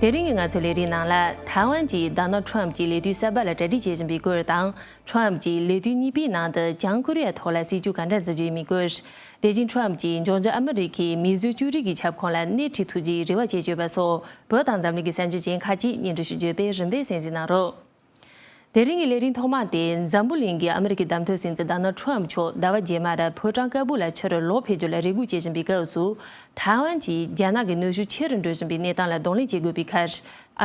དེ་རིང་གི་ང་ཚོའི་ལས་རིགས་ནང་ལ་ཐའེ་ཝན་གྱིས་ཟླ་ནོར་ཁྲོམ་གྱི་ལས་དུས་གསར་པ་ལ་གྲ་སྒྲིག་བྱེད་བཞིན་པའི་སྐོར་དང་ཁྲོམ་གྱིས་ལས་དུས་གཉིས་པའི་ནང་དུ་བྱང་ཀོ་རི་ཡའི་ཐོག་ལ་སྲིད་ཇུས་ག་འདྲ་འཛིན་རྒྱུ་ཡིན་མིན་སྐོར། དེ་བཞིན་ཁྲོམ་གྱིས་འབྱུང་འགྱུར་ཨ་མི་རི་ཁའི་མིས་བཟོས་ཅོ་རིགས་ཀྱི་ཁྱབ་ཁོངས་ལ་སྣེ་ཁྲིད་ཐུབ་རྒྱུའི་རེ་བ་བྱེད་སྤྱོད་པ་སོགས་བོད་དང་འཛམ་གླིང་གི་སྲན་ཇུས་ཅན་ཁག་ཅིག་སྙན་སྒྲོན་ཞུ་སྤྱོད་པའི་རིམ་པའི་གསན་གཟིགས་གནང་རོགས། དེ་རིང་གི་ལས་རིམ་ཐོག་མ་དེ་འཛམ་བུ་གླིང་གི་ཨ་མི་རི་ཀའི་བདམས་ཐོན་སྲིད་འཛིན་ཟླ་ནོར་ཁྲོམ་མཆོག་ཟླ་བ་རྗེས་མར་ཕོ་བྲང་དཀར་པོ་ལ་ཕྱིར་ལོག་འཕེལ་འགྱུར་ལ་རེ་སྒུག་བྱེད་བཞིན་པའི་སྐབས་སུ། ཐའེ་ཝན་གྱིས་རྒྱ་ནག་གི་ནུས་ཤུགས་ཆེ་རུ་འགྲོ་བཞིན་པའི་གནས་སྟངས་ལ་གདོང་ལེན་བྱེད་དགོས་པའི་ཁར།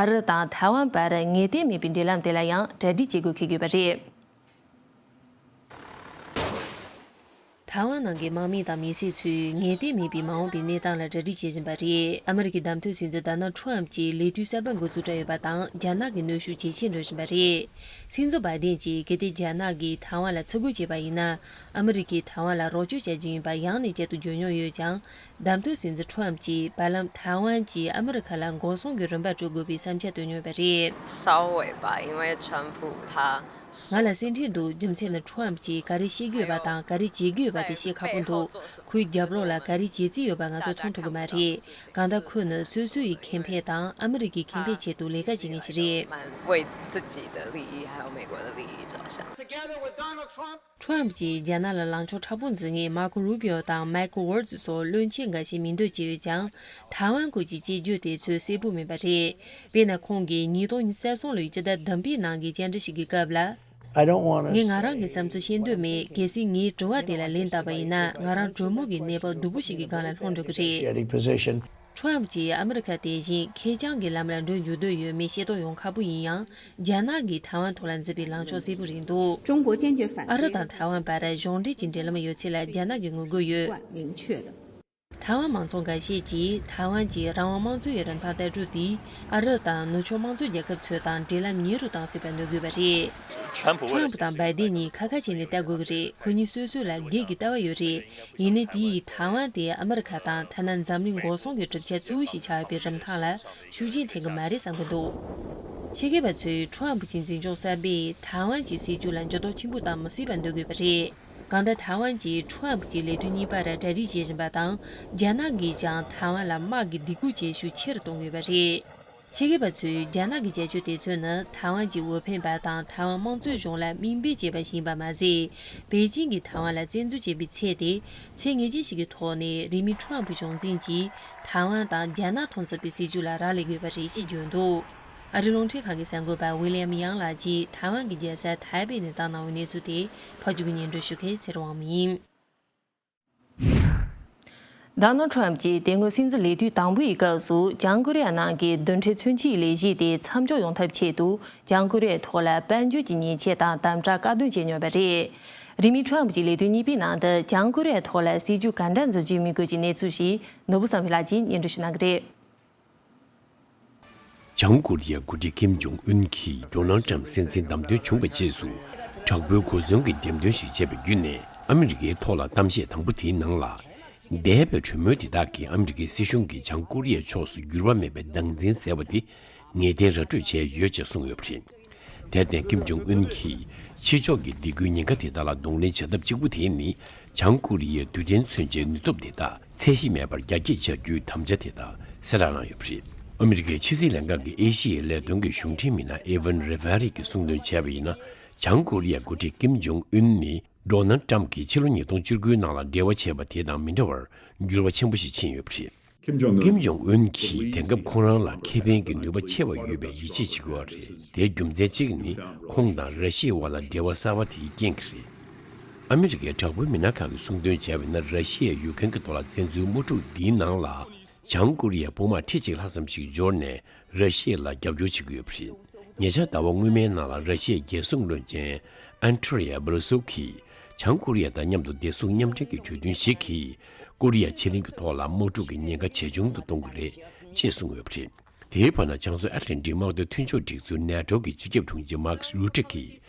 ཨ་རི་དང་ཐའེ་ཝན་བར་ངེས་གཏན་མེད་པའི་འབྲེལ་ལམ་དེ་ལ་ཡང་གྲ་སྒྲིག་བྱེད་དགོས་འཁེལ་དགོས་པ་རེད། ཐའེ་ཝན་ནང་གི་དམག་མི་དང་མི་སེར་ཚོས་ངལ་བསྟས་མེད་པའི་མ་འོངས་པའི་གནས་སྟངས་ལ་གྲ་སྒྲིག་བྱེད་བཞིན་པ་རེད། ཨ་མེ་རི་ཁའི་བདམས་ཐོན་སྲིད་འཛིན Donald Trump ཀྱིས་ལས་དུས་གསར་པ་འགོ་འཛུགས་གྲབས་ཡོད་པ་དང་རྒྱ་ནག་གི་གནོན་ཤུགས་ཇེ་ཆེར་འགྲོ་བཞིན་པ་རེད། སྲིད་འཛིན Biden ཀྱིས་གལ་ཏེ་རྒྱ་ནག་གིས་ཐའེ་ཝན་ལ་ཚུར་རྒོལ་བྱས་པ་ཡིན་ན་ཨ་མེ་རི་ཁས་ཐའེ་ཝན་ལ་རོགས་སྐྱོར་བྱ་རྒྱུ་ཡིན་པ་ཡང་ནས་བསྐྱར་དུ་བརྗོད་མྱོང་ཡོད་ཀྱང་བདམས་ཐོན་སྲིད་འཛིན Trump ཀྱིས་བར་ལམ་ཐའེ་ཝན་གྱིས་ཨ་མེ་རི་ཁ་ལ་འགོག་སྲུང་གི་རིན་པ་སྤྲོད་དགོས་པའི་བསམ་འཆར་བཏོན་མྱོང་བ་རེད། གསར་འོས་པ་ཡིན་བའི་ཁྲོན་ཕུའུ་ཐཱ། ང་ལ་སེམས་ཁྲལ་འདུག་རྒྱུ་མཚན་ནི Trump ཀྱིས་ག་རེ་བཤད་རྒྱུ་ཡོད་པ་དང་ག་རེ་བྱེད་རྒྱུ་ཡོད་པ་དེ་བཤད་ཁག་པོ་འདུག་ཁོའི་རྒྱབ་རོགས་ལ་ག་རེ་བྱེད་རྩིས་ཡོད་པ་ང་ཚོས་མཐོང་ཐུབ་གི་མ་རེད། གང་ལྟར་ཁོས་ནི་སོ་སོའི་ཡི་གེ་འཕེལ་དང་ཨ་མི་རི་ཀའི་ཁེ་འཕེལ་ཆེད་དུ་ལས་ཀ་བྱེད་མཁན་ཞིག་རེད། Trump ཀྱིས་རྒྱ་ནག་ལ་ལངས་ཕྱོགས་ཕྲ་པོ་འཛིན་མཁན Marco Rubio དང Michael Waltz སོགས་བློན་ཆེན་འགའ་ཤས་མིང་འདོན་བྱས་ཡོད་ཀྱང། Taiwan སྐོར་གྱི་དཔྱད་བརྗོད་དེ་ཚོས་གསལ་པོ་མིན་པ་རེད། དེས་ན་ཁོང་གིས་ཉིས་སྟོང་ཉི་ཤར་སོང་ལོའི་སྤྱི་ཟླ་དམ་པའི་ནང་གི་བཅར་འདྲི་ཞིག་གི་སྐབས་ལ། ངས་ང་རང་གི་བསམ་ཚུལ་བཤད་འདོད་མེད་གལ་སྲིད་ངའི་དྲི་བ་དེ་ལ་ལན་བཏབ་པ་ཡིན་ན་ང་རང་གྲོས་མོལ་གྱི་གནས་བབ་སྡུག་པོ་ཞིག་གི་སྒང་ལ་ལྷུང་འགྲོ་གི་རེད། Trump ཀྱིས་ཨ་མི་རི་ཁ་དེ་བཞིན་ཁེ་རྐྱང་གི་ལམ་ལ་འགྲོ་འཇུག་འདོད་ཡོད་མེད་ཤེས་རྟོགས་ཡོང་ཁག་པོ་ཡིན་ཡང་རྒྱ་ནག་གིས་ཐའེ་ཝན་ཐོག་ལ་འཛིན་པའི་ལངས་ཕྱོགས་གསལ་པོ་རེད་འདུག། ཨ་རི་དང་ཐའེ་ཝན་བར་གཞོགས་འདེགས་ཀྱི་འབྲེལ་ལམ་ཡོད་ཚད་ལ་རྒྱ་ནག་གིས་ངོ་རྒོལ་ཡོད། ཐའེ་ཝན་མང་ཚོགས་འགའ་ཤས་ཀྱིས་ཐའེ་ཝན་གྱི་རང་དབང་དམངས་གཙོའི་རིན་ཐང་ལྟ་གྲུབ་དེ་ཨ་རབ་དང་ནུབ་ཕྱོགས་དམངས་གཙོ་རྒྱལ་ཁབ་ཚོའི་དང་འབྲེལ་ལམ་ཉེ་རུ་བཏང་སྲིད་པ་ནོར་དགོས་པ་རེད། Trump དང Biden གཉིས་ཁ་ཁ་བྱས་ནས་བལྟ་དགོས་ཀྱི་རེད་ཁོ་གཉིས་སོ་སོའི་ལ་སྒེར་གྱི་ལྟ་བ་ཡོད་རེད་ཡིན་ནའི་དེ་ཡིས་ཐའེ་ཝན་དེ་ཨ་མི་རི་ཁ་དང་ཐ་ན་འཛམ་གླིང་འགོག་སྲུང་གི་གྲུབ་ཆ་གཙོ་བོ་ཞིག་ཆགས་ཡོད་པའི་རིམ་ཐང་ལ་ཤུགས་རྐྱེན་ཐེབས་ཀྱི་མ་རེད་བསམ་གྱི་འདུག་ཕྱི་རྒྱལ་བ་ཚོས Trump གྱི་འཛིན་སྐྱོང་གསར་པས་ཐའེ་ཝན་གྱི་སྲིད་བྱུས་ལ་འགྱུར་ལྡོག་ཆེན་པོ་བཏང་མི་སྲིད་པ་འདོད་དགོས་པ་རེད། གང་ལྟར་ཐའེ་ཝན་གྱིས་ཁྲོམ་ཨབ་ཀྱི་ལས་དོན་གཉིས་པར་གྲ་སྒྲིག་བྱེད་བཞིན་པ་དང་རྒྱ་ནག་གིས་ཀྱང་ཐའེ་ཝན་ལ་དམག་གི་སྡིགས་སྐུལ་བྱེད་ཤུགས་ཆེ་རུ་གཏོང་གི་ཡོད་པ་རེད། ཕྱི་སྒེར་པ་ཚོས་རྒྱ་ནག་གི་བྱ་སྤྱོད་དེ་ཚོ་ནི་ཐའེ་ཝན་གྱི་འོས་འཕེན་པ་དང་ཐའེ་ཝན་དམངས་གཙོའི་གཞུང་ལ་མིང་སྤེལ་བྱས་པ་ཞིག་ཡིན་པ་མ་ཟད། པེ་ཅིང་གིས་ཐའེ་ཝན་ལ་བཙན་འཛུལ་བྱས་པའི་ཚད་དེ་ཚད་ངེས་ཅན་ཞིག་གི་ཐོག་ནས་རིང་མིན་ཁྲོམ་ཨབ་གཞུང་འཛིན་གྱིས་ཐའེ་ཝན་དང་རྒྱ་ནག་མཐོང་ཚོད་པའི་སྲིད་བྱུས་ལ་རག་ལས་དགོས་པ་རེད་ཅེས་བརྗོད་འདུག། ཨ་རི་རླུང་འཕྲིན་ཁང་གི་གསར་འགོད་པ་ཝི་ལི་ཡམ་ཡཱང་ལགས་ཀྱིས་ཐའེ་ཝན་གྱི་རྒྱལ་ས་ཐའེ་པེ་ནས་བཏང་གནང་བའི་གནས་ཚུལ་དེ་ཕ་རྒྱུད་ཀྱི་ཉན་སྤྲོ་ཞུ་མཁན་ཚེ་རོང་ཝང་མིང་ཡིན། Donald Trump ཀྱིས་དེ་སྔོན་སྲིད་འཛིན་ལས་དུས་དང་པོའི་སྐབས་སུ་བྱང་ཀོ་རི་ཡ་ནང་གི་བདུན་ཕྲན་མཚོན་ཆའི་ལས་གཞི་དེ་མཚམས་འཇོག་ཡོང་ཐབས་ཆེད་དུ་བྱང་ཀོ་རི་ཡའི་ཐོག་ལ་དཔལ་འབྱོར་གྱི་ཉེས་ཆད་དང་དམ་དྲག་བཀའ་བསྟུན་བྱས་མྱོང་བ་རེད། རིང་མིན Trump ཀྱི་ལས་དུས་གཉིས་པའི་ནང་དུ་བྱང་ཀོ་རི་ཡའི་ཐོག་ལ་སྲིད་ཇུས་ག་འདྲ་འཛུགས་རྒྱུ་མི་དགོས་ཀྱི་གནས་ཚུལ་ཞིག་ནོར་བུ་བསམ་ཡུལ་ལགས་ཀྱིས་ཉན་སྤྲོ་ཞུས་གནང་གི་རེད། བྱང་ཀོ་རི་ཡའི་མགོ་ཁྲིད་ཀེམ་ཇོང་ཨུན་གྱིས་རྒྱོ་ནལ་ཀྲམ་སྲིད་འཛིན་བདམས་ཐོན་བྱུང་བའི་རྗེས་སུ་དྲག་པོའི་གོ་མཚོན་གྱི་འགྲེམས་སྟོན་ཞིག་བྱས་པ་བརྒྱུད་ནས་ཨ་མི་རི་ཀའི་ཐོག་ལ་གཏམ་བཤད་དང་པོ་དེའི་ནང་ལ། འདས་པའི་གྲོས་མོལ་དེ་དག་གིས་ཨ་མི་རི་ཀའི་སྲིད་གཞུང་གིས་བྱང་ཀོ་རི་ཡའི་ཕྱོགས་སུ་འགྱུར་བ་མེད་པའི་སྡང་འཛིན་ཟེར་བ་དེ་ངེས་གཏན་ར་སྤྲོད་བྱས་ཡོད་ཅེས་གསུངས་ཡོད་པ་རེད། དེར་བརྟེན་ཀིམ་ཇུང་ཨུན་གྱིས་ཕྱི་ཕྱོགས་ཀྱི་སྡིགས་སྐུལ་ཉེན་ཁ་དེ་དག་ལ་གདོང་ལེན་བྱ་ཐབས་གཅིག་པུ་དེ་ནི་བྱང་ཀོ་རི་ཡའི་རྡུལ་ཕྲན་མཚོན་ཆའི་ནུས་སྟོབས་དེ་དག་ཚད་གཞི་མེད་པར་རྒྱ་སྐྱེད་བྱ་རྒྱུའི་དམ་བཅའ་དེ་དག་གསལ་བསྒྲགས་གནང་ཡོད་པ་རེད། ཨ་མི་རི་ཀའི་ཕྱི་སྲིད་ལས་ཁང་གི་ཨེ་ཤེ་ཡའི་ལས་དོན་གྱི་གཞུང་འབྲེལ་མི་སྣ་ཨེ་ཝན་རེ་བྷ་རི་གིས་གསུང་འདོན་བྱས་པ་ཡིན་ན་བྱང་ཀོ་རི་ཡའི་འགོ་ཁྲིད་ཀིམ་ཇུང་ཨུན་ནི་མདོར་ན་ཀྲམ་གྱིས་ཕྱི་ལོ་ཉིས་སྟོང་བཅུ་དགུའི་ནང་ལ་འབྲེལ་བ་བྱས་པ་དེ་དང་མི་འདྲ་བར་འགྱུར་བ་ཆེན་པོ་ཞིག་ཕྱིན་ཡོད་པ་རེད། ཁེམ་ཇོང་ཨུན། ཀེམ་ཇོང་ཨུན་གྱིས་དེང་སྐབས་ཁོང་རང་ལ་ཁེ་ཕན་གྱི་ནུས་པ་ཆེ་བ་ཡོད་པའི་ཡིད་ཆེས་བྱེད་དགོས་བ་རེད་དེའི་རྒྱུ་མཚན་གཅིག་ནི་ཁོང་དང་ར་ཤི་ཡའི་བར་ལ་འབྲེལ་བ་གསར་བ་དེའི་རྐྱེན་གྱིས་རེད། ཨ་མི་རི་ཀའི་དྲག་པོའི་མི་སྣ་ཁག་གིས་གསུང་འདོན་བྱས་བས་ན་ར་ཤི་ཡས་ཡུག་ཁན་གྱི་མདོ་ལ་བཙན་འཛུལ་དམག་འཁྲུག་འདིའི་ནང་ལ་བྱང་ཀོ་རི་ཡའི་དཔུང་དམག་ཁྲི་གཅིག་ལྷག་ཙམ་ཞིག་འབྱོར་ནས་ར་ཤི་ཡ་ལ་རྒྱབ་སྐྱོར་བྱེད་ཀྱི་ཡོད་པ་རེད། ཉེ་ཆར་ཟླ་བ་སྔོན་མའི་ནང་ལ་ར་ཤི་ཡའི་རྒྱལ་སྲུང་བློན་ཆེན Andrei Ablosov གིས་བྱང་ཀོ་རི་ཡ་དང་མཉམ་དུ་བདེ་སྲུང་མཉམ་འབྲེལ་གྱི་གྲོས་མཐུན་ཞིག་གིས་ཀོ་རི་ཡ་ཕྱེད་གླིང་གི་ཐོག་ལ་དམག་འཁྲུག་གི་ཉེན་ཁ་ཇེ་ཆུང་དུ་གཏོང་གི་རེད་ཅེས་གསུངས་ཡོད་པ་རེད། དེའི་བར་ན་བྱང་བཟོ་ཨ་རིའི་འབྲེལ་མཐུན་དམག་དོན་མཐུན་ཕྱོགས་སྒྲིག་འཛུགས་ནེ་ཏྲོ་གི་སྤྱི་ཁྱབ་དྲུང་ཆེ་མཱ་ཁིས་རུའུ་ཀྲེ་ཀིས།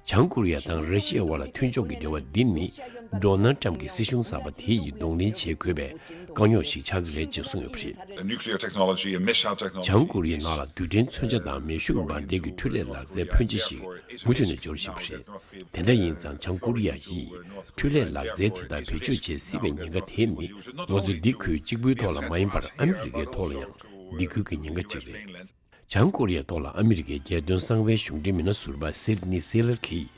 བྱང་ཀོ་རི་ཡ་དང་ར་ཤི་ཡའི་བར་ལ་མཐུན་ཕྱོགས་ཀྱི་འབྲེལ་བ་འདི་ནི་ལྡོ་ནལ་ཏྲམ་གྱི་སྲིད་གཞུང་གསར་པ་དེ་ཡིས་གདོང་ལེན་བྱེད་དགོས་པའི་དཀའ་རྙོག་ཞིག་ཆགས་ཀྱི་རེད་ཅེས་གསུངས་ཡོད་པ་རེད། བྱང་ཀོ་རི་ཡས་ནག་ལ་རྡུལ་ཕྲན་མཚོན་ཆ་དང་མེ་ཤུགས་འབར་མདེལ་གྱི་འཕྲུལ་ལས་ལག་རྩལ་ཕོན་ཆེ་ཞིག་མུ་མཐུད་ནས་འབྱོར་བཞིན་པ་རེད། དེ་འདྲ་ཡིན་ཙང་བྱང་ཀོ་རི་ཡ་ཡིས་འཕྲུལ་ལས་ལག་རྩལ་དེ་དག་བེད་སྤྱོད་བྱེད་སྲིད་པའི་ཉེན་ཁ་དེ་ནི་ང་ཚོ་འདི་ཁུལ་གཅིག་པུའི་ཐོག་ལ་མ་ཡིན་པར་ཨ་མི་རི་ཀའི་ཐོག་ལ་ཡང་འདི་ཁུལ་གྱི་ཉེན་ཁ་གཅིག་རེད། བྱང་ཀོ་རི་ཡའི་ཐོག་ལ་ཨ་མི་རི་ཀའི་རྒྱལ་དོན་གསང་བའི་གཞུང་འབྲེལ་མི་སྣ་ཟུར་པ་སིར་ནི་སི་ལར་གྱིས་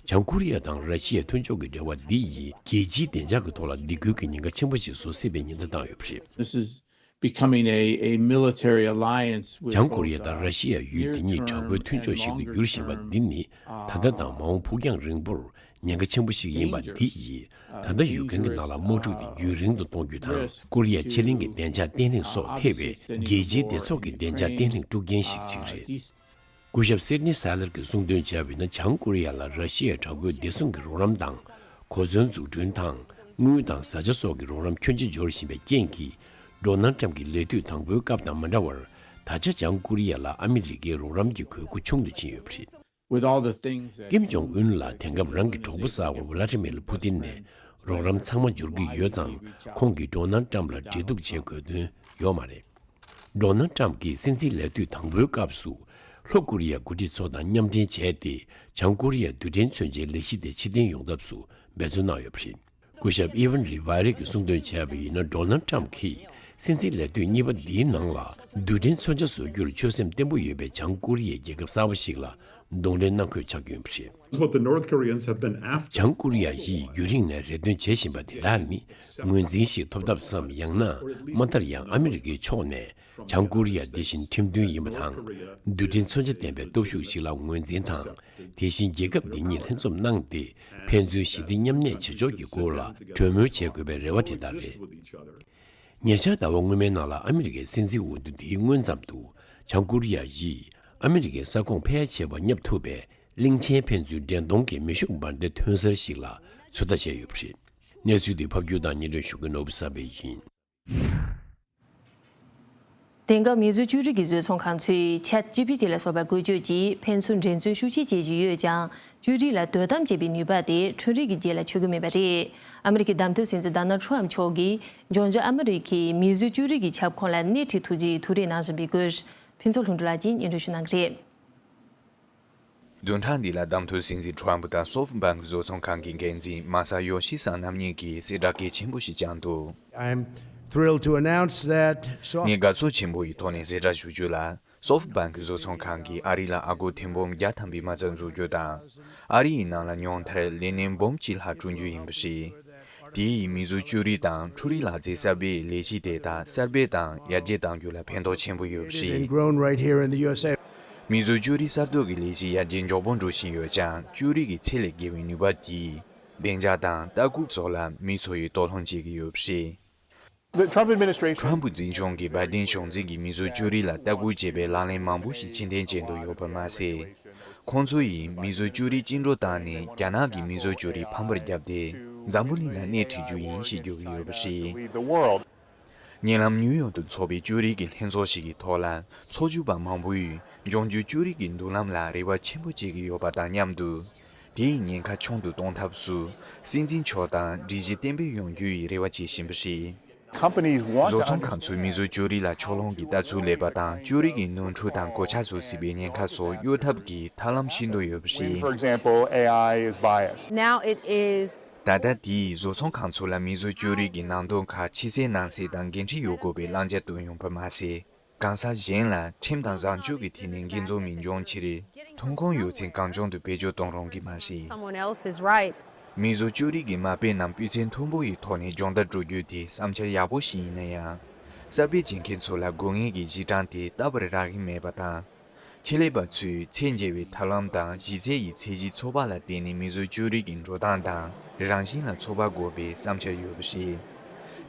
བྱང་ཀོ་རི་ཡ་དང་ར་ཤི་ཡའི་མཐུན་ཕྱོགས་ཀྱི་འབྲེལ་བ་འདི་ཡིས་རྒྱལ་སྤྱིའི་བདེ་འཇགས་ཀྱི་ཐོག་ལ་འདི་ཁུལ་གྱི་ཉེན་ཁ་ཆེན་པོ་ཞིག་བཟོ་སྲིད་པའི་ཉེན་བརྡ་བཏང་ཡོད་པ་རེད། Becoming a military alliance with བྱང་ཀོ་རི་ཡ་དང་ར་ཤི་ཡ་ཡུལ་འདི་གཉིས་དྲག་པོའི་མཐུན་ཕྱོགས་ཤིག་ཏུ་འགྱུར་བཞིན་པ་འདི་ནི་ད་ལྟ་དང་མ་འོངས་ཕུགས་རྒྱང་རིང་པོར་ཉེན་ཁ་ཆེན་པོ་ཞིག་ཡིན་པ་འདི་ཡིས་ད་ལྟ་ཡུག་ཀེན་གྱི་ནང་ལ་དམག་འཁྲུག་འདི་རྒྱུན་རིང་དུ་གཏོང་རྒྱུ་དང། ཀོ་རི་ཡ་ཕྱེད་གླིང་གི་བདེ་འཇགས་བརྟན་ལྷིང་སོགས་ཐེ་བའི་རྒྱལ་སྤྱིའི་བདེ་ཚོགས་ཀྱི་བདེ་འཇགས་བརྟན་ལྷིང་དཀྲུག་རྐྱེན་ཞིག་ཅིག་རེད། སྐུ་ཞབས་སེར་ནི་སཱི་ལར་གྱིས་གསུང་འདོན་བྱས་པའི་ནང་བྱང་ཀོ་རི་ཡ་ལ་ར་ཤི་ཡའི་དྲག་པོའི་བདེ་སྲུང་གི་རོགས་རམ་དང་གོ་མཚོན་འཛུགས་སྐྲུན་དང་དངུལ་དང་བཟའ་བཅའ་སོགས་ཀྱི་རོགས་རམ་ཁྱོན་ཆེ་འབྱོར་བཞིན་པའི་རྐྱེན་གྱིས་སྒྲོ་ནལ་ཀྲམ་གྱི་ལས་དུས་དང་པོའི་སྐབས་དང་མ་འདྲ་བར་ད་ཆ་བྱང་ཀོ་རི་ཡ་ལ་ཨ་མི་རི་ཀའི་རོགས་རམ་གྱི་གོས་སྐུ་ཆུང་དུ་ཕྱིན་ཡོད་པ་རེད། ཀེམ་ཇོང་ཨུན་ལ་དེང་སྐབས་རང་གི་གྲོགས་པོ་གསར་བ་བྷི་ལ་ཏི་མེ་ལ་ཕུ་ཏིན་ནས་རོགས་རམ་ཚང་མ་འབྱོར་གྱི་ཡོད་ཙང་ཁོང་གིས་སྒྲོ་ནལ་ཀྲམ་ལ་འབྲེལ་གཏུག་བྱེད་དགོས་དོན་ཡོད་མ་རེད། མདོར་ན་ཀྲམ་གྱིས་སྲིད་འཛིན་ལས་དུས་དང་པོའི་སྐབས་སུ། ལྷོ་ཀོ་རི་ཡའི་འགོ་ཁྲིད་ཚོ་དང་མཉམ་འབྲེལ་བྱས་ཏེ་བྱང་ཀོ་རི་ཡའི་རྡུལ་ཕྲན་མཚོན་ཆའི་ལས་གཞི་དེ་ཕྱིར་འཐེན་ཡོང་ཐབས་སུ་འབད་བརྩོན་གནང་ཡོད་པ་རེད། སྐུ་ཞབས་ཨི་ཝན་རི་བྷ་རེ་གིས་གསུང་འདོན་བྱས་པ་ཡིན་ན་མདོར་ན་ཀྲམ་གྱིས་སྲིད་འཛིན་ལས་དུས་གཉིས་པ་འདིའི་ནང་ལ་རྡུལ་ཕྲན་མཚོན་ཆ་བཟོ་རྒྱུར་ཆོད་སེམས་བརྟན་པོ་ཡོད་པའི་བྱང་ཀོ་རི་ཡའི་རྒྱལ་ཁབ་གསར་བ་ཞིག་ལ་གདོང་ལེན་གནང་ཁོད་ཆགས་ཀྱི་ཡོད་པ་རེད། བྱང་ཀོ་རི་ཡ་ཡིས་རྒྱུན་རིང་ནས་རེ་འདུན་བྱེད་བཞིན་པ་དེ་དག་ནི་ངོས་འཛིན་ཞིག་ཐོབ་ཐབས་སམ་ཡང་ན་མ་མཐར་ཡང་ཨ་མི་རི་ཀའི་ཕྱོགས་ནས་བྱང་ཀོ་རི་ཡ་འདི་བཞིན་ཁྲིམས་མཐུན་ཡིན་པ་དང་འདུལ་ཁྲིམས་མཚོན་ཆ་ལྡན་པའི་སྟོབས་ཤུགས་ཤིག་ལ་ངོས་འཛིན་དང་དེ་བཞིན་རྒྱལ་ཁབ་འདི་གཉིས་ལྷན་འཛོམས་གནང་སྟེ་ཕན་ཚུན་ཞི་བདེ་མཉམ་གནས་བྱེད་ཕྱོགས་ཀྱི་སྐོར་ལ་གྲོས་མོལ་བྱེད་དགོས་པའི་རེ་བ་དེ་དག་རེད། ཉེ་ཆར་ཟླ་བ་སྔོན་མའི་ནང་ལ་ཨ་མི་རི་ཀའི་སྲིད་འཛིན་འོས་བསྡུ་འདིའི་སྔོན་ཙམ་དུ་བྱང་ཀོ་རི་ཡ་ཡིས་ཨ་མི་རི་ཀའི་ས་ཁོངས་ཕལ་ཆེ་བ་བསྙབ་ཐུབ་པའི་གླིང་ཆེན་ཕན་ཚུན་འདྲེན་གཏོང་གི་མེ་ཤུགས་འབར་མདེལ་ཐོན་གསར་ཞིག་ལ་ཚོད་ལྟ་བྱས་ཡོད་པ་རེད། གནས་ཚུལ་འདི་ཕབ་སྒྱུར་དང་སྙན་སྒྲོན་ཞུ་མཁན་ནོར་བུ་བསམ་འཕེལ་ཡིན། དེང་སྐབས་མིས་བཟོས་བཅོས་སྒྲིག་གི་བཟོས་ཚོང་ཁང་ཚོས Chat GPT ལ་སོགས་པ་བཀོལ་སྤྱོད་ཀྱིས་ཕན་ཚུན་འགྲན་རྩོད་ཤུགས་ཆེ་བྱེད་བཞིན་ཡོད་ཀྱང་བཅོས་སྒྲིག་ལ་དོ་དམ་བྱེད་པའི་ནུས་པ་དེ་ཁྲོན་རིགས་ཀྱི་རྒྱལ་ལ་ཆོད་གི་མེད་པ་རེད། ཨ་མི་རི་ཀའི་བདམས་ཐོན་སྲིད་འཛིན Donald Trump མཆོག་གིས་འབྱུང་འགྱུར་ཨ་མི་རི་ཀའི་མིས་བཟོས་བཅོས་སྒྲིག་གི་ཁྱབ་ཁོངས་ལ་སྣེ་ཁྲིད་ཐུབ་རྒྱུ་ཡིན་ཐུགས་རེ་གནང་བཞིན་པའི་སྐོར་ཕུན་ཚོགས་ལྷུན་འགྲུབ་ལགས་ཀྱིས་སྙན་སྒྲོན་ཞུ་གནང་གི་རེད། བདུན་ཕྲག་འདི་ལ་བདམས་ཐོན་སྲིད་འཛིན Trump དང SoftBank བཟོ་ཚོང་ཁང་གི་འགན་འཛིན Masayoshi Son རྣམ་གཉིས་ཀྱིས་གསལ་བསྒྲགས་གལ་ཆེན་པོ་ཞིག་བསྐྱངས་འདུག། ངས་དགའ་ཚོར་ཆེན་པོ་ཡི་ཐོག་ནས་གསལ་བསྒྲགས་ཞུ་རྒྱུ་ལ། SoftBank བཟོ་ཚོང་ཁང་གིས་ཨ་རི་ལ་ཨ་སྒོར་ཐེར་འབུམ་བརྒྱ་ཐམ་པའི་མ་རྩ་འཛུགས་རྒྱུ་དང། ཨ་རི་ཡི་ནང་ལ་ཉུང་མཐར་ལས་གནས་འབུམ་གཅིག་ལྷག་བསྐྲུན་རྒྱུ་ཡིན་པ། དེའི་ཡིན་མིན་གཟུགས་ཅོ་རིས་དང་འཕྲུལ་རིག་ལག་རྩལ་གསར་པའི་ལས་གཞི་དེ་དག་གསར་སྤེལ་དང་ཡར་རྒྱས་གཏང་རྒྱུ་ལ་ཕན་ཐོགས་ཆེན་པོ་ཡོད་པ་རེད། མིས་གཟུགས་ཅོ་རིས་གསར་གཏོད་ཀྱི་ལས་གཞི་ཡར་རྒྱས་མགྱོགས་པོ་འགྲོ་བཞིན་ཡོད་ཀྱང་ཅོ་རིས་ཀྱི་ཚད་ལས་བརྒལ་བའི་ནུས་པ་དེས་བདེ་འཇགས་དང་ལྟ་སྐུལ་སོགས་ལ་མིའི་འཚོ་ཡི་དོགས་སློང་བྱེད་ཀྱི་ཡོད་པ་རེད། ཁྲོམ་བུ་འཛིན་སྐྱོང་གིས་བར་བརྟེན་གཞུང་འཛིན་གྱི་མི་བཟོ་བཅོས་རིགས་ལ་ལྟ་སྐུལ་བྱེད་པའི་ལག་ལེན་མང་པོ་ཞིག་ཕྱི་འཐེན་བྱེད་འདོད་ཡོད་པར་མ་ཟད། ཁོང་ཚོ་ཡིས་མི་བཟོ་བཅོས་རིགས་བཅིངས་འགྲོལ་བཏང་ནས་རྒྱ་ནག་གི་མི་བཟོ་བཅོས་རིགས་ཕམ་པར་བརྒྱབ་སྟེ་འཛམ་བུ་གླིང་ལ་སྣེ་ཁྲིད་རྒྱུ་ཡིན་ཞེས་བརྗོད་ཀྱི་ཡོད་པ་རེད། ཉེ་ལམ་ནིའུ་ཡོག་ཏུ་འཚོགས་པའི་བཅོས་རིགས་ཀྱི་ལྷན་ཚོགས་ཤིག་གི་ཐོག་ལ་ཚོགས་ཞུགས་པ་མང་པོས་ལྗོངས་རྒྱུའི་བཅོས་རིགས་ཀྱི་མདུན་ལམ་ལ་རེ་བ་ཆེན་པོ་བྱེད་ཀྱི་ཡོད་པ་དང་མཉམ་དུ། དེ་ཡི་ཉེན་ཁ་ཆུང་དུ་གཏོང་ཐབས་སུ། སྲིད་འཛིན་མཆོག་དང་སྒྲིག་གཞི་བརྟན་པོས་ཡོང་རྒྱུ་ཡི་རེ་བ་བྱེད་བཞིན་པ་རེད། བཟོ་ཚོང་ཁང་ཚོས་མིས་བཟོས་ཅོ་རི་ལ་ཕྱོགས་ལྷུང་གི་ལྟ་ཚུལ་ལེགས་པ་དང་ཅོ་རི་གི་ནོར་འཁྲུལ་དང་གོད་ཆག་བཟོ་སྲིད་པའི་ཉེན་ཁ་སོགས་གཡོལ་ཐབས་ཀྱི་ཐབས་ལམ་ཤིན་ཏུ་ཡོད་པ་རེད། ད་ལྟ་དེ་ཡིས་བཟོ་ཚོང་ཁང་ཚོ་ལ་མིས་བཟོས་ཅོ་རི་གི་ནང་དོན་ཁག་ཕྱི་གསལ་ནང་གསལ་དང་འགན་འཁྲི་ཡོད་དགོས་པའི་བླང་བྱ་བཏོན་ཡོང་པ་མ་ཟད། གང་ཟག་གཞན་ལ་ཁྲིམས་དང་བཟང་སྤྱོད་ཀྱི་ཐད་ནས་འགན་འཛོལ་མི་འབྱུང་ཆེད་རེད། ཐོན་ཁུངས་ཡོད་ཚེ་གངས་ལྗོངས་དུ་བེད་སྤྱོད་གཏོང་རུང་གི་མ་རེད། མི་བཟོ་བཅོས་རིགས་ཀྱི་མ་དཔེ་རྣམས་སྤུས་ཚད་མཐོན་པོ་ཡི་ཐོག་ནས་སྦྱོང་བརྡར་སྤྲོ་རྒྱུ་དེ་བསམ་འཆར་ཡག་པོ་ཞིག་ཡིན་ན་ཡང། གསར་སྤེལ་བྱེད་མཁན་ཚོ་ལ་དགོས་ངེས་ཀྱི་གཞི་གྲངས་དེ་ལྟ་བུར་རག་གི་མེད་པ་དང། ཁེ་ལས་པ་ཚོས་ཚད་འཇལ་བའི་ཐབས་ལམ་དང་གཞི་རྩའི་ཡི་ཚད་གཞི་ཚོགས་པ་ལ་བརྟེན་ནས་མིས་བཟོས་བཅོས་རིགས་ཀྱི་འགྲོ་སྟངས་དང་རང་བཞིན་ལ་ཚོགས་པ་དགོས་པའི་བསམ་འཆར་ཡོད་པ་ཞིག།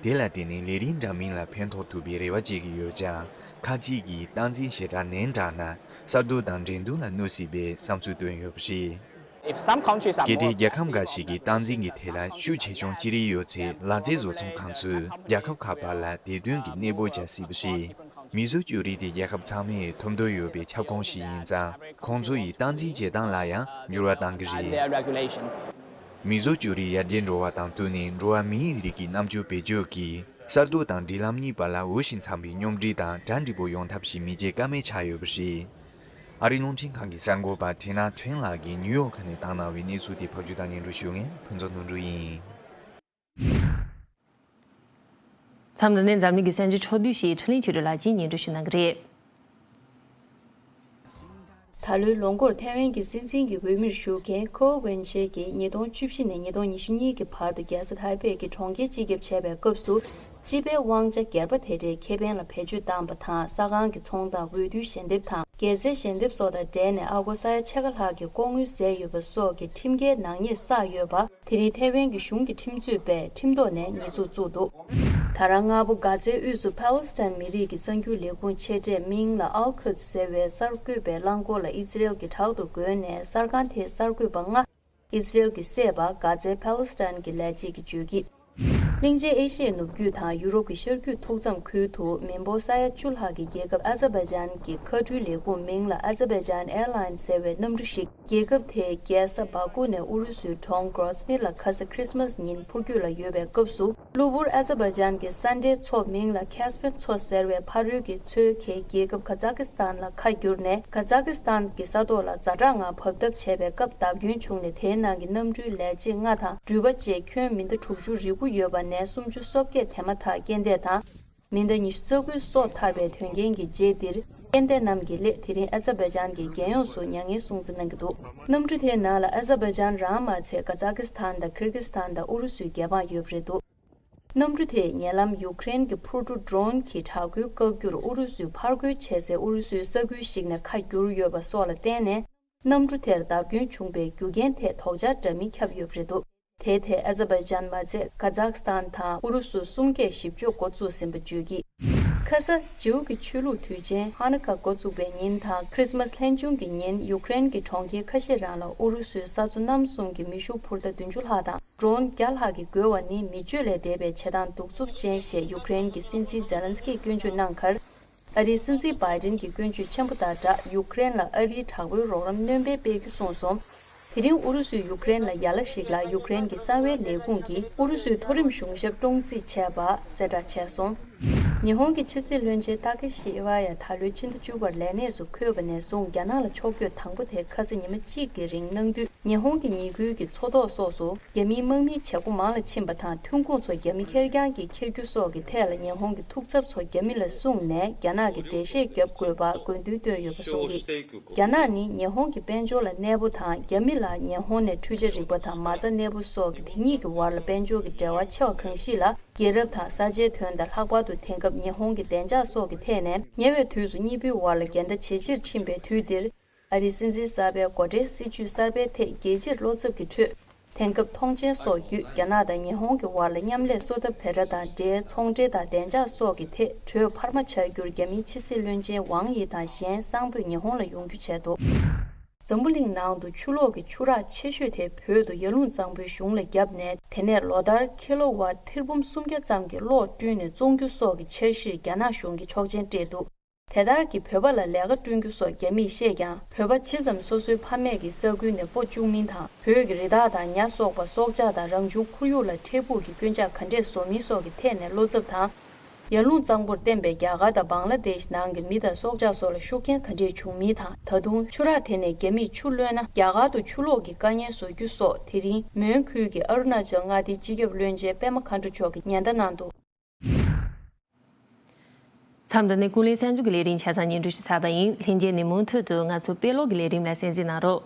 དེ་ལ་བརྟེན་ནས་ལས་རིགས་འདྲ་མིན་ལ་ཕན་ཐོགས་ཐུབ་པའི་རེ་བ་བྱེད་ཀྱི་ཡོད་ཀྱང་ཁག་ཅིག་གིས་སྟངས་འཛིན་ཞེ་དྲགས་ནན་དྲགས་ན་གསར་གཏོད་དང་འགྲན་བསྡུར་ལ་གནོད་སྲིད་པའི་བསམ་ཚུལ་བཏོན་ཡོད་པ་རེད། གལ་ཏེ་རྒྱལ་ཁབ་འགའ་ཞིག་གིས་སྟངས་འཛིན་གྱི་ཐད་ལ་ཤུགས་ཆེ་ཆུང་ཅི་རིགས་ཡོད་ཚེ་ལག་རྩལ་བཟོ་ཚོང་ཁང་ཚོས་རྒྱལ་ཁབ་ཁག་བར་ལ་དེ་དོན་གྱི་གནས་སྤོ་བྱ་སྲིད་པ་རེད། མི་བཟོ་བཅོས་རིགས་དེ་རྒྱལ་ཁབ་ཚང་མས་ཐོབ་འདོད་ཡོད་པའི་ཁྱབ་ཁོངས་ཤིག་ཡིན་ཙང་ཁོང་ཚོ་ཡི་སྟངས་འཛིན་བྱེད་སྟངས་ལ་ཡང་འགྱུར་བ་གཏང་གི་རེད། མི་བཟོ་བཅོས་རིགས་ཡར་རྒྱས་འགྲོ་བ་དང་བསྟུན་ནས་འགྲོ་བ་མིའི་རིགས་ཀྱི་རྣམ་དཔྱོད་བེད་སྤྱོད་ཀྱིས་གསར་གཏོད་དང་སྒྲིག་ལམ་གཉིས་བར་ལ་འོས་ཤིང་འཚམ་པའི་སྙོམས་སྒྲིག་དང་གྲ་འགྲིག་པོ་ཡོང་ཐབས་ཤིག་མི་བྱེད་ཀ་མེད་ཆགས་ཡོད་པ་རེད། ཨ་རིའི་རླུང་འཕྲིན་ཁང་གི་གསར་འགོད་པ་ཐི་ན་ཁྲེང་ལགས་ཀྱིས་ནིའུ་ཡོག་ཁ་ནས་བཏང་གནང་བའི་གནས་ཚུལ་དེ་ཕབ་བསྒྱུར་དང་ཉན་སྒྲུག་ཞུས་མཁན་ཕུན་ཚོགས་དོན་གྲུབ་ཡིན། མཚམས་འདི་ནས་འཛམ་གླིང་གི་གསར་འགྱུར་ཕྱོགས་བསྡུས་ཞེས་ཁྲི་ལིན་ཆོས་གྲོས་ལགས་ཀྱིས་ཉན་སྒྲུག་ཞུས་གནང་གི་རེད། ད་ལོའི་ལོ་མགོར་ཐའེ་ཝན་གྱི་སྲིད་འཛིན་གྱི་འོས་མིར་བཞུགས་མཁན་ཁོའོ་ཝེན་ཅེ་ཀྱིས་ཉིས་སྟོང་བཅུ་བཞི་ནས་ཉིས་སྟོང་ཉི་ཤུ་གཉིས་ཀྱི་བར་དུ་རྒྱལ་ས་ཐའེ་པེ་གྱི་གྲོང་ཁྱེར་སྤྱི་ཁྱབ་བྱས་པའི་སྐབས་སུ་སྤྱི་པའི་དབང་ཆ་སྒེར་པ་དེ་འདྲའི་ཁེ་ཕན་ལ་བེད་སྤྱོད་བཏང་པ་དང་ས་ཁང་གི་ཚོང་དང་འོས་བསྡུའི་ཞལ་འདེབས་དང་རྒྱལ་རྩེའི་ཞལ་འདེབས་སོགས་དང་འབྲེལ་ནས་ཨ་སྒོར་ས་ཡ་ཕྱེད་ཀ་ལྷག་གི་ལྐོག་དངུལ་ཟད་ཡོད་པ་སོགས་ཀྱི་ཁྲིམས་འགལ་ནག་ཉེས་བསགས་ཡོད་པ་དེ་རིང་ཐའེ་ཝན་གྱི་གཞུང་གི་ཁྲིམས་རྩོད་པས་ཁྲིམས་ཐོག་ནས་ཉེས་འཛུགས་བཙུགས་འདུག། ད་རང་སྔ་པོ་གྷ་ཛའི་དབུས་སུ་ཕཱ་ལོ་སི་ཐན་མི་རིགས་ཀྱི་གསར་འགྱུར་ལས་ཁུངས་ཆེ་གྲས་མིང་ལ Al Quds ཟེར་བའི་གསར་འགོད་པའི་རླངས་འཁོར་ལ་ཨི་ཛི་རེལ་གྱི་དྲག་ཏུ་རྒོལ་ནས་གསར་ཁང་དེའི་གསར་འགོད་པ་ལྔ་ཨི་སི་རེལ་གྱི་བསད་པ་གྷ་ཛའི་ཕཱ་ལེ་སི་ཐན་གྱི་ལས་བྱེད་ཀྱི་བརྗོད་ཀྱིས། གླིང་ཆེན་ཨེ་ཤི་ཡའི་ནུབ་རྒྱུད་དང་ཡུ་རོབ་ཀྱི་ཤར་རྒྱུད་ཐུག་མཚམས་ཁུལ་དུ་མི་འབོར་ས་ཡ་བཅུ་ལྷག་གི་རྒྱལ་ཁབ་ཨ་ཛ་བེ་ཇཱན་གྱི་མཁའ་འགྲུལ་ལས་ཁུངས་མིང་ལ་ཨ་ཛ་བེ་ཇཱན་ཨེར་ལཱིན་ཟེར་བའི་གནམ་གྲུ་ཞིག་རྒྱལ་ཁབ་དེའི་རྒྱལ་ས་སྦ་ཀུ་ནས་ཨུ་རུ་སུའི་གྲོང་གྲོ་སི་ནི་ལ་ཁ་ས་ཁྲིས་མཱས་ཉིན་འཕུར་རྒྱུ་ལ་ཡོད་པའི་སྐབས་སུ། གློ་བུར་ཨ་ཛེ་བྷ་ཇཱན་གྱི་ས་འབྲེལ་ཚོགས་མིང་ལ་ཁཱེ་སྤེན་མཚོ་ཟེར་བའི་ཕ་རོལ་གྱི་མཚོའི་གྷལ་རྒྱལ་ཁབ་ཁ་ཛཱ་ཁི་སི་ཐན་ལ་ཁ་བསྒྱུར་ནས་ཁ་ཛཱ་ཁི་སི་ཐན་གྱི་ས་ཐོག་ལ་རྫ་དྲག་ངང་བབས་ཐབས་བྱས་པའི་སྐབས་བརྡབ་སྐྱོན་བྱུང་ནས་དེའི་ནང་གི་གནམ་གྲུའི་ལས་བྱེད་ལྔ་དང་འགྲུལ་པ་བཅས་ཁྱོན་མི་ཟླ་དྲུག་ཅུ་རེ་དགུ་ཡོད་པ་ནས་སུམ་ཅུ་སོ་བརྒྱད་དེ་མ་ཐག་རྐྱེན་འདས་དང། མི་ཟླ་ཉི་ཤུ་རྩ་དགུའི་སྲོག་ཐར་པའི་དོན་རྐྱེན་གྱི་རྗེས་འདིར་སྐལ་ལྡན་རྣམས་ཀྱི་སླད་དེ་རིང་ཨ་ཛ་བེ་ཇཱན་གྱི་རྒྱལ་ཡོངས་སུ་མྱ་ངན་སྲུང་བརྩི་གནང་གི་འདུག་གནམ་གྲུ་དེའི་ནང་ལ་ཨ་ཛ་བེ་ཇཱན་རང་མ་ཚད་ཀ་ཛག་ཀིས་ཐན་དང་ཁིར་ཀིས་ཐན་དང་ཨུ་རུ་སུའི་རྒྱལ་འབངས་ཡོད་པ་རེད་འདུག་གནམ་གྲུ་དེས་ཉེ་ལམ་ཡུག་ཀེ་རན་གྱི་འཕུར་གྲུ Drone གྱིས་དྲག་རྒོལ་བཀག་རྒྱུར་ཨུ་རུ་སུས་ཕར་རྒོལ་བྱས་སའི་ཨུ་རུ་སུའི་ས་ཁུལ་ཞིག་ནས་ཁ་བསྒྱུར་ཡོད་པ་སོགས་ལ་བརྟེན་ནས་གནམ་གྲུ་དེར་བརྡབ་སྐྱོན་བྱུང་པའི་རྒྱུ་རྐྱེན་ཐད་དོགས་འཆར་འདྲ་མིན་ཁྱབ་ཡོད་པ་རེད་འདུག། དེའི་ཐད་ཨེ་ཛ་བྷེ་ཇཱན་མ་ཚད་ཀ་ཛག་སི་ཐན་དང་ཨུ་རུ་སུ་གསུམ་ཀས་ཞིབ་འཇུག་འགོ་བཙུགས་ཟིན་པ་བརྗོད་ཀྱིས། ཁ་ས་ཇིའུ་གི་ཆོས་ལུགས་དུས་ཆེན་ཧ་ན་ཀ་འགོ་བཙུགས་པའི་ཉིན་དང་ཁྲིས་མཱས་ལྷན་བྱུང་གི་ཉིན་ཡུ་ཀེ་རེན་གྱི་གྲོང་ཁྱེར་ཁ་ཤས་རང་ལ་ཨུ་རུ་སུའི་ས་མཚོ་གནམ་གསུམ་གྱི་མེ་ཤུགས་འཕུར་མདའ་བདུན་ཅུ་ལྷག་དང Drone བརྒྱ་ལྷག་གིས་རྒོལ་བ་ནི་མི་སྤྱོད་ལས་འདས་པའི་བྱེད་སྟངས་གདུག་རྩུབ་ཅན་ཞེས་ཡུ་ཀེ་རེན་གྱི་སྲིད་འཛིན་ཛེ་ལན་སི་ཀིས་སྐྱོན་བརྗོད་གནང་ཁར། ཨ་རིའི་སྲིད་འཛིན་སྦ་རིན་གྱིས་ཀུན་སྤྱོད་ཆེན་པོ་དང་སྦྲགས་ཡུག་ཀེ་རེན་ལ་ཨ་རིའི་དྲག་པོའི་རོགས་རམ་སྣོན་སྤེལ་སྤེལ་རྒྱུ་གསུངས་སོང། དེ་རིང་ཨུ་རུ་སུས་ཡུག་ཀེ་རེན་ལ་ཡར་ལ་ཞིག་ལ་ཡུག་ཀེ་རེན་གྱི་གསང་བའི་ལས་ཁུངས་ཀྱིས་ཨུ་རུ་སུའི་མཐོ་རིམ་གཞུང་ཞབས་བཀྲོངས་རྩིས་བྱས་པ་གསལ་བསྒྲགས་བྱས་སོང། ཉི་ཧོང་གི་ཕྱི་སྲིད་བློན་ཆེན་ཏཱ་ཀེ་ཤི་ཨེ་ཝ་ཡ་ད་ལོའི་ཕྱི་ཟླ་བཅུ་པར་ལས་གནས་སུ་འཁོད་པ་ནས་བཟུང་རྒྱ་ནག་ལ་ཕྱོགས་བསྐྱོད་དང་པོ་དེ་ཁ་ས་ཉི་མ་གཅིག་གི་རིང་གནང་དུས་ཉི་ཧོང་གི་ཉེ་ཁུལ་གྱི་མཚོ་ཐོག་སོགས་སུ། རྒྱ་མིའི་དམག་མིའི་བྱེད་སྒོ་མང་ལ་ཕྱིན་པ་དང་ཐོན་ཁུངས་ཚོ་རྒྱ་མི་ཁེར་རྐྱང་གིས་འཁྱེར་རྒྱུ་སོགས་ཀྱི་ཐད་ལ་ཉེ་ཧོང་གི་ཐུགས་འཚབ་ཚོ་རྒྱ་མི་ལ་གསུངས་ནས་རྒྱ་ནག་གི་འགྲེལ་བཤད་བརྒྱབ་དགོས་པ་དགོས་འདུན་བཏོན་ཡོད་པ་གསུངས་ཏེ། རྒྱ་ནག་ནི་ཉེ་ཧོང་གི་དཔལ་འབྱོར་ལ་གནས་པོ་དང་རྒྱ་མི་ལ་ཉེ་ཧོང་ནས་འཕྲུལ་ཆ་རིག་པ་དང་མ་རྩ་གནས་པོ་སོགས་ཀྱི་དེ་གཉིས་ཀྱི་བར་ལ་དཔལ་འབྱོར་གྱི་འབྲེལ་བ་ཆེ་བ་གང་ཞིག་ལ་རྒྱལ་རབས་དང་ས་ཆའི་དོན་དང་ལྷག་པར་དུ་དེང་སྐབས་ཉེ་ཧོང་གི་བདེ་འཇགས་སོགས་ཀྱི་ཐད་ནས་ཉེ་བའི་དུས་སུ་གཉིས་པོའི་བར་ལ་འགལ་ཟླ་ཇེ་ཆེར་ཕྱིན་པའི་དུས་འདིར། ཨ་རིའི་སྲིད་འཛིན་གསར་པའི་མགོ་ཁྲིད་སྲིད་བྱུས་གསར་པའི་ཐད་རྒྱལ་སྤྱིར་བློ་འཚབ་ཀྱི་ཁྲོད། དེང་སྐབས་ཐོངས་མཆན་སོགས་བརྒྱུད་རྒྱ་ནག་དང་ཉི་ཧོང་གི་བར་ལ་མཉམ་ལས་གསོ་ཐབས་དེ་དྲ་དང་འབྲེལ་ཚོང་འབྲེལ་དང་བདེ་འཇགས་སོགས་ཀྱི་ཐད་གྲོས་འཕར་མ་བྱ་རྒྱུར་རྒྱ་མིའི་ཕྱི་སྲིད་བློན་ཆེན་ཝང་དབྱི་དང་གཞན་བསང་ཕོད་ཉི་ཧོང་ལ་ཡོང་རྒྱུ་བྱས་འདུག། འཛམ་བུ་གླིང་ནང་དུ་ཆུ་ལོག་གི་ཆུ་རགས་ཆེ་ཤོས་དེ་བོད་དུ་ཡར་ཀླུང་གཙང་པོའི་གཞུང་ལ་བརྒྱབ་ནས་དེ་ནས་ལོ་ལྟར་ཁི་ལོ་བ་ཐིར་འབུམ་སུམ་བརྒྱ་ཙམ་གྱི་གློག་བསྐྲུན་ནས་བཙོང་རྒྱུ་སོགས་ཀྱི་འཆར་གཞིར་རྒྱ་ནག་གཞུང་གིས་ཆོག་མཆན་སྤྲད་འདུག་དེ་དག་གིས་བོད་པ་ལ་ལས་ཀ་བསྐྲུན་རྒྱུ་སོགས་རྒྱ་མིས་ཤེས་ཀྱང་བོད་པ་ཇི་ཙམ་སོ་སོའི་ཕ་མེས་ཀྱི་ས་ཁུལ་ནས་སྤོ་བཅུག་མིན་དང་བོད་ཀྱི་རི་དྭགས་དང་ཉྭ་སོགས་པ་སྲོག་ཆགས་དང་རང་བྱུང་ཁོར་ཡུག་ལ་འཕྲལ་ཕུགས་ཀྱི་སྐྱོན་ཆག་ག་འདྲས་བཟོ་མིན་སོགས་ཀྱི་ཐད་ནས་བློ་འཚབ་དང། ཡར་ཀླུང་གཙང་པོར་བརྟེན་པའི་རྒྱ་གར་དང་བང་ལ་དེཤ་ནང་གི་མི་དང་སྲོག་ཆགས་སོགས་ལ་ཤུགས་རྐྱེན་ག་འདྲས་བྱུང་མིན་དང་ད་དུང་ཆུ་རགས་དེ་ནས་རྒྱ་མིས་ཆུ་ལོན་ན་རྒྱ་གར་དུ་ཆུ་ལོག་གི་དཀའ་ཉེན་བཟོ་རྒྱུ་སོགས་དེ་རིང་མོན་ཁུལ་གྱི་ཨ་རུ་ན་ཅལ་མངའ་སྡེའི་སྤྱི་ཁྱབ་བློན་ཆེན་པད་མ་མཁའ་འགྲོ་མཆོག་གིས་ཉེན་བརྡ་གནང་འདུག། མཚམས་འདི་ནི་ཀུན་གླེང་གསར་འཛུགས་ཀྱི་ལས་རིམ་ཆ་ཚང་ཉིན་བསྒྲུབས་ཞུ་ས་པ་ཡིན། ལྷན་རྒྱས་ནས་མུ་མཐུད་དུ་ང་ཚོ་དཔེ་ཀློག་གི་ལས་རིམ་ལ་གསན་གཟིགས་གནང་རོགས།